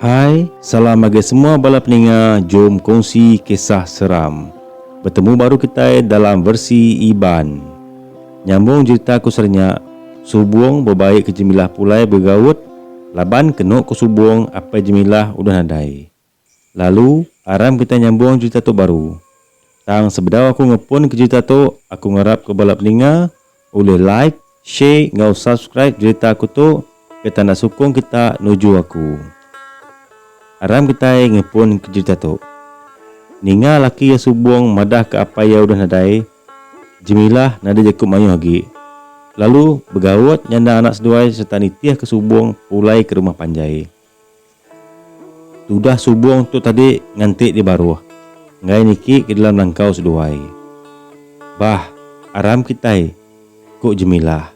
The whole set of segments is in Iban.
Hai, salam ngagai semua bala peninga jom kongsi kisah seram. Betemu baru kitai dalam versi Iban. Nyambung jerita ku serenya, Subong bebai ke Jemilah pulai begegaut laban kenu ku Subong apai Jemilah udah nadai. Lalu, aram kitai nyambung jerita tu baru. Tang sebedau aku ngepunka jerita tu, aku ngarapka bala peninga ulih like, share enggau subscribe jerita aku tu ke tanda sukung kita nuju aku. Aram kitai ngepunka jerita tu. Ninga laki iya subung madahka apai iya udah nadai, Jemilah nadai jaku mayuh agi. Lalu, begaut nyanda anak seduai sereta nitihka subung pulai ke rumah panjai. Tudah subong tu tadi nganti di baruh enggai niki ke dalam langkau seduai. Bah, aram kitai, ku Jemilah.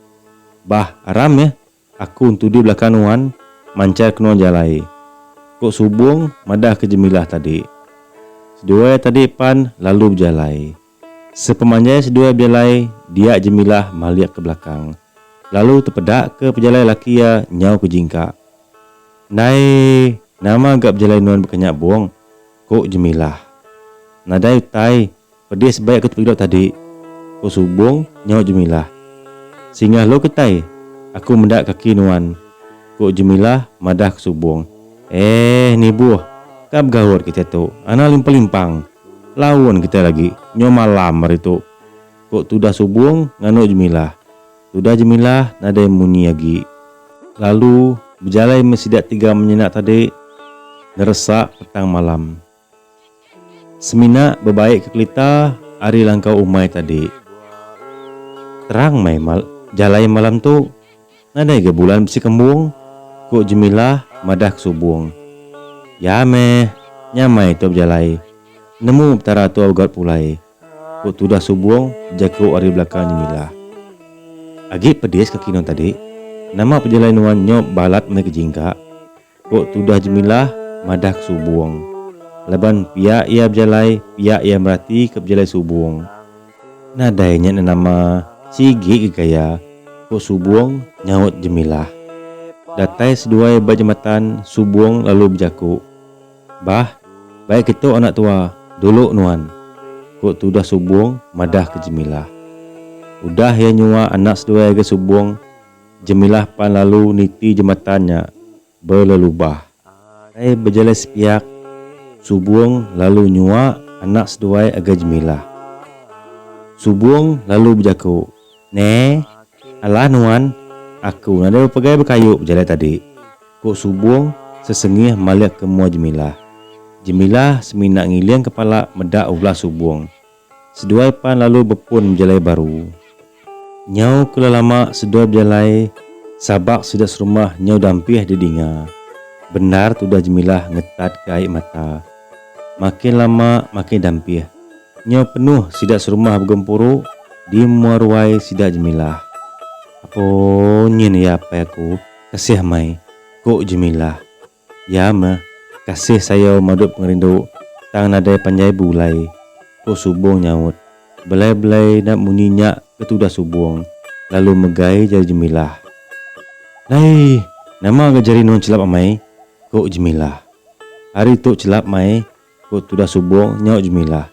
Bah, aram yeh, aku entudi belakang nuan manchar kenoa jalai, ku Subong madahka Jemilah tadi. Seduai tadi pan lalu bejalai. Sepemanjai seduai bejalai dia Jemilah malik ke belakang lalu tepedaka pejalai laki iya nyau ke jingka. Ndai nama ga bejalai nuan bekanya bung, ku Jemilah. Nadai utai, pedis sebai aku tepegilo tadi, ku Subong nyau Jemilah. Singgah lu kitai, aku meda kaki nuan, ku Jemilah madah ke Subong. Eh nibuh, ka begaut kitai tu, anang limpang-limpang. Laun kitai lagi nyau malam hari tu, ku Tudah Subong nganu Jemilah. Tudah Jemilah nadai munyi agi. Lalu bejalai meh sida tiga menyina tadi neresa petang malam. Semina bebai ke kelita ari langkau umai tadi. Terang meh jalai malam tu. Nadai ga bulan bisi kembung? ku Jemilah madah ke Subong. Ya meh, nyamai tu bejalai. Nemu Petara tu Augat pulai, ku tudah Subong bejaku ari belakang Jemilah. Agi pedis kaki nuan tadi. Nama pejalai nuan nyop balat meh ke jingga? Ku tudah Jemilah madah ke Subong. Laban pia iya bejalai pia iya merati ke bejalai Subong. Nadai nya enda nama, sigi ke gaya, ku Subong nyaut Jemilah. Datai seduai ba jematan Subong lalu bejaku, Bah, baik ketu anak tua, dulu nuan, ku tudah Subong madah ke Jemilah. Udah iya nyuwa anak seduai agai Subong. Jemilah pan lalu niti jematan nya belelubah. Ai bejalai sepiak, Subong lalu nyua anak seduai ngagai Jemilah. Subong lalu bejaku, Ne, alah nuan, aku nadai bepegai bekayu bejalai tadi, ku Subong sesengih malik ke mua Jemilah. Jemilah semina ngiling kepala meda ulah Subong. Seduai pan lalu bepun bejalai baru. Nyau ke la lama seduai bejalai sabak sida serumah nyau dampih didinga. Bendar tudah Jemilah ngetat ke ai mata. Makin lama makin dampih. Nyau penuh sida serumah begempuru di mua ruai sida Jemilah. Apo nyin iya apai aku, kasih mei, ku Jemilah. Ya meh, kasih sayau madut pengerindu, tang nadai panjai beulai, ko Subong nyaut. Belai-belai enda munyi nya ke tudah Subong, lalu megai jari Jemilah. Lai! Nama ga jari nuan chelap amai? ko Jemilah. Hari tu chelap mai, Ku tudah subong nyau Jumilah.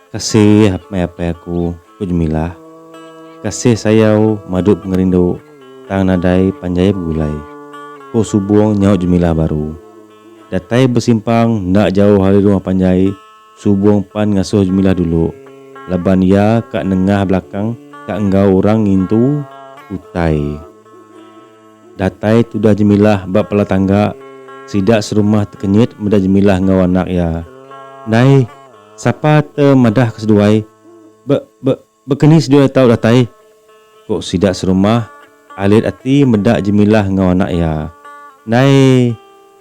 Kasih meh apai aku, ku Jumilah. Kasih sayau madu pengerindu tang nadai panjai begulai, ku subong nyau Jumilah baru. Datai besimpang enda jauh ari rumah panjai, subong pan ngasuh Jumilah dulu laban iya ka nengah belakang ka enggau orang ngintu utai. Datai tudah Jemilah ba pala tangga, sida serumah tekenyit meda Jemilah enggau anak iya. Ndai, sapa te madah ke seduai? Be, be, baka ni seduai tau datai? ku sida serumah alit ati meda Jemilah enggau anak iya. Ndai,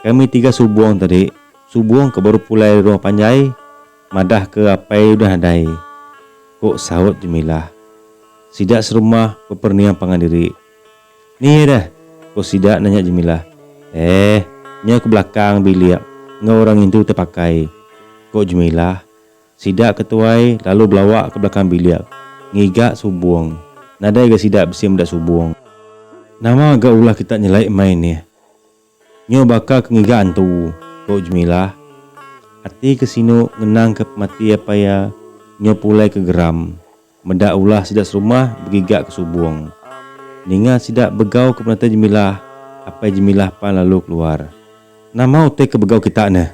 kami tiga Subong tadi, Subong ke baru pulai ari rumah panjai, madah ke apai udah nadai, ku saut Jemilah. Sida serumah beperening pangan diri. Ni iya dah, ko sida nanya Jemilah. Eh, nya ke belakang bilik enggau orang indu tepakai, ko Jemilah. Sida ke tuai lalu belawa ke belakang bilik ngiga subung. Nadai ga sida bisi meda subung. Nama ga ulah kita nyelai mai nih? Nyo baka ke ngiga entu, ko Jemilah. Ati ke sinu ngenang ke pemati apai iya nyo pulai ke geram meda ulah sida serumah begiga ke subong. Ninga sida begau ke penatai Jemilah, apai Jemilah pan lalu keluar. Nama utai ke begau kita neh?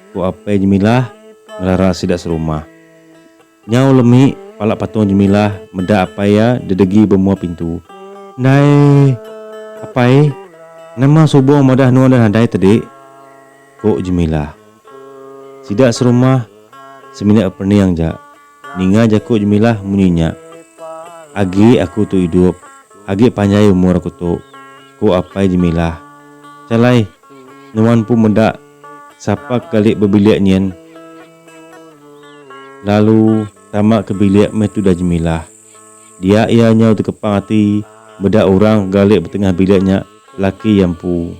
ko apai Jemilah ngelara sida serumah. Nyau lemi pala patung Jemilah meda apai iya dedegi bemua pintu. Ndai. Apai, nama Subong madah enun dah nadai tedi? ku Jemilah. Sida serumah, semina perening ja. Ninga jaku Jemilah munyi nya. Agi aku tu idup, agi panjai umur aku tu, ku apai Jemilah. Chalai, nuan empu meda sapa ke gali bebilik nyin. Lalu, tama ke bilik meh tudah Jemilah. Dia iya nyau tekepang ati meda orang ke galik betengah bilik nya laki iya empu.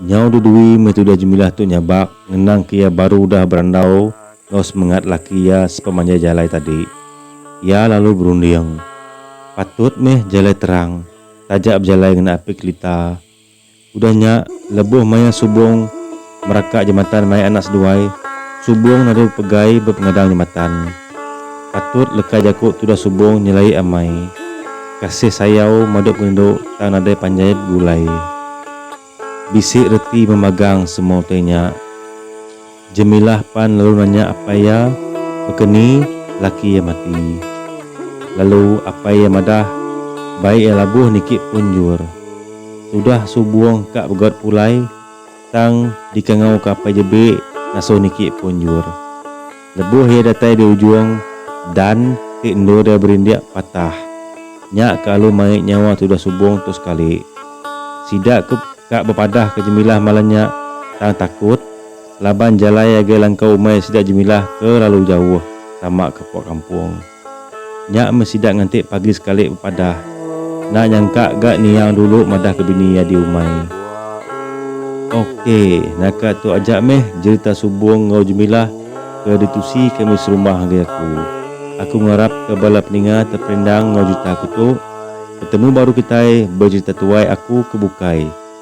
Nyau Dudui meh tudah Jemilah tu nyabak ngenang ke iya baru udah berandau enggau semengat laki iya sepemanjai jalai tadi. Iya lalu berunding, Patut meh jalai terang taja bejalai ngena api kelita. Udah nya, lebuh maya Subong meraka jematan mai anak seduai, Subong nadu pegai bepengadang jematan. Patut leka jaku tudah Subong nyelai amai. Kasih sayau madu perindu tang nadai panjai begulai. Bisi reti memagang semua utai nya. Jemilah pan lalu nanya apai iya baka ni laki iya mati. Lalu apai iya madah bai iya labuh niki pun jur. Tudah subung ka begaut pulai tang dikangau ka apai jebi ngasuh niki pun jur. Lebuh iya datai di ujung dan ti endur iya berindik patah. Nya ka alu mai nyawa tudah subung tu sekali. Sida ke ka bepadah ka Jemilah malam nya tang takut. Laban jalai agai langkau umai sida Jemilah ke lalu jauh tama ke puak kampung. Nya meh sida nganti pagi sekali bepadah. Enda nyangka ga Niang dulu madah ke bini iya diumai. Ok, naka tu aja meh jerita Subong enggau Jemilah ke ditusi kami serumah ngagai aku. Aku ngarap ke bala peninga terperendang enggau jerita aku tu. Betemu baru kitai bejerita tuai aku ke bukai.